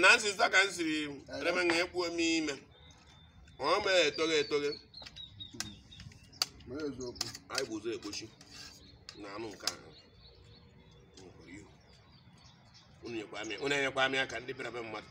na nsịsa ka m siri reme na ekpuo m ime ọ ma etoghe etoghe Mee eziokwu. anyị bụ ụzọ ekpochi na anụ nke ahụ nwekwara ihu unu nyekwa amị unu enyekwa amị aka ndị bịara be mmadụ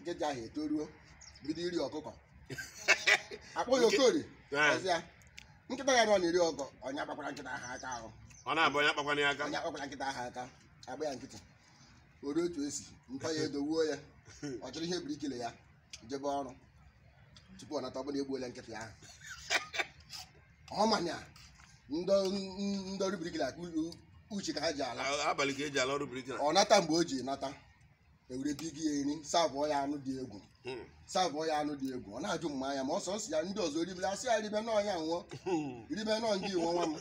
nkịta ahụ etoruo bido iri ọkụkọ akpọ ya okori Ah. ọ sị ya nkịta ya na-eri ọkụkọ onye kpakwara nkịta ahụ aka ahụ ọ na-abụ onye akpakwana ya aka onye kpakwara nkịta ahụ aka agba ya nkịtị o ruo otu esi ntọ ya edowe ya ọ chịrị ihe bricklayer jebe ọrụ tupu ọ nata ọ bụ na egbuola nkịta ya ahụ ị ma na ndị ọrụ bricklayer ka u- uchi ka ha ji ala A- abalị ka eji ala ọrụ bricklayer ọ nata mgbe o ji nata ewere bigi ya eri savụọ ya anụ dị egwu Hmm. savụọ ya anụ dị egwu ọ na-ajụ mma anya ma ọsọ nsị ya ndị ọzọ ribere asị ya ribe na ọ ya nwe Hmm. ribe na ọ gị nwe nwa m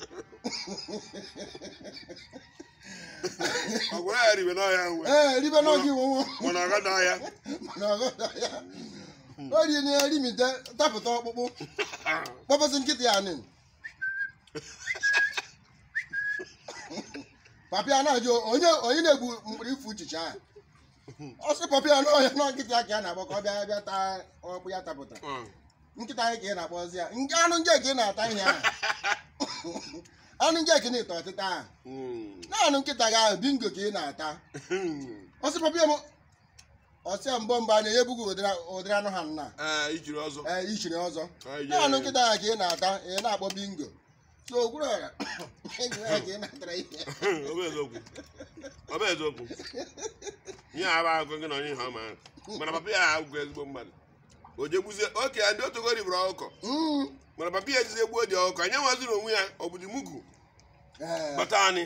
ọ gwara ya ribe na ya nwe ee ribe na ọ gị nwe nwa m mana ọ gada ya na ọghọta ya o rie na erimite tapụta ọkpụkpụ kpọbezi nkịta ya nị papa ya na-ajụ onye onye na-egbu mkpọrọ ifi uchichi a ọ sị papa ya na ọ ya na nkịta ka ya na-akpọ ka ọ bịa bịa taa ọkpụkpụ ya tapụta Mm. nkịta anyị ka ị na-akpọzi ya nke anụ nje ka ị na-ata ihe ahụ anụ nje ka ị na-eto ọtịta ahụ Mm. na anụ nkịta gị ahụ bingo ka ị na-ata ọ sị papa m ọ sị ya mba mba anụ ya ebughị ụdịrị ụdịrị anụ ha nna ee ijiri ọzọ ee ichiri ọzọ Anyị jee- na anụ nkịta ahụ ka ị na-ata ị na-akpọ bingo so okwuru ọra enyi ya ka ị na-atara ihe ọ bụ eziokwu ọ bụ eziokwu ihe a bụ akụkọ gị na onye ihe ọma mana papa ya abụghị ezigbo mmadụ o jegbuzie oke ndị otogo riburu ọkụkọ Mm. mana papa ya ejizi egbuo the ọkụkọ anya nwaziri onwe ya ọ bụ the mugu Ee, bata anyị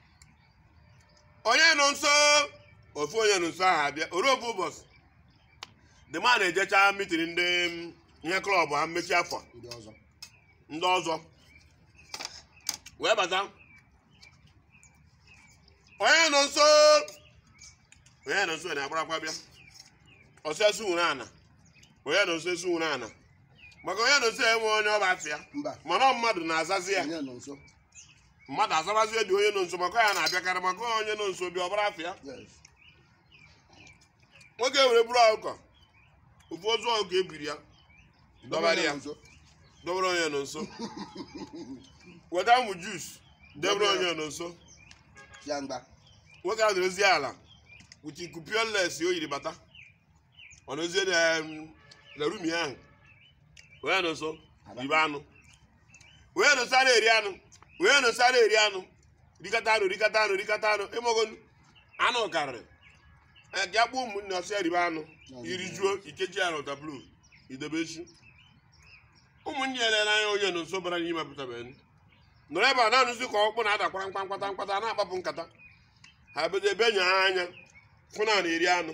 onye nọ nso ofu onye nọ nso ahụ abịa o ruo ofu ụbọchị the man ejecha meeting ndị mm, ihe club ha mmechi afọ ndị ọzọ ndị ọzọ wee bata onye nọ nso onye nọ nso na-agbarakwa bịa ọ sị ya sukwuru ana onye nọ nso esukwuru ana maka onye nọ nso enwe onye ọba afịa mba mana ọ mmadụ na-azazi ya onye nọ nso mmadụ azabazie the onye nọ nso maka ya na-abịakarị maka onye nọ nso bịa ọbara afọ ya nwoke were buru ọkụkọ ofu ozu ọkụkọ ebiri ya dọbara ya dọbara onye nọ nso weta ụmụ juice debere onye nọ nso nwoke a na-ozi ala wuti kupioles o yiri bata ọ nọzie na room ya ahụ onye nọ nso ribe anụ onye nọ nso a na-eri anụ onye nọ nso a na-eri anụ rikata anụ rikata anụ rikata anụ ịmagonu anụ karịrị ga kpọọ ụmụnne soo ya ribe anụ i rijuo i kechie ya na waterproof i debe echi ụmụnne ya na-ele anya onye nọ nso bara n'ime pụtabeghị nọrọ ebe a na-anụzi ka ọkpụ na-adakwara mkpa mkpata mkpata a na-akpapụ nkata ha bido ebe nya ha anya fụ na ọ na-eri anụ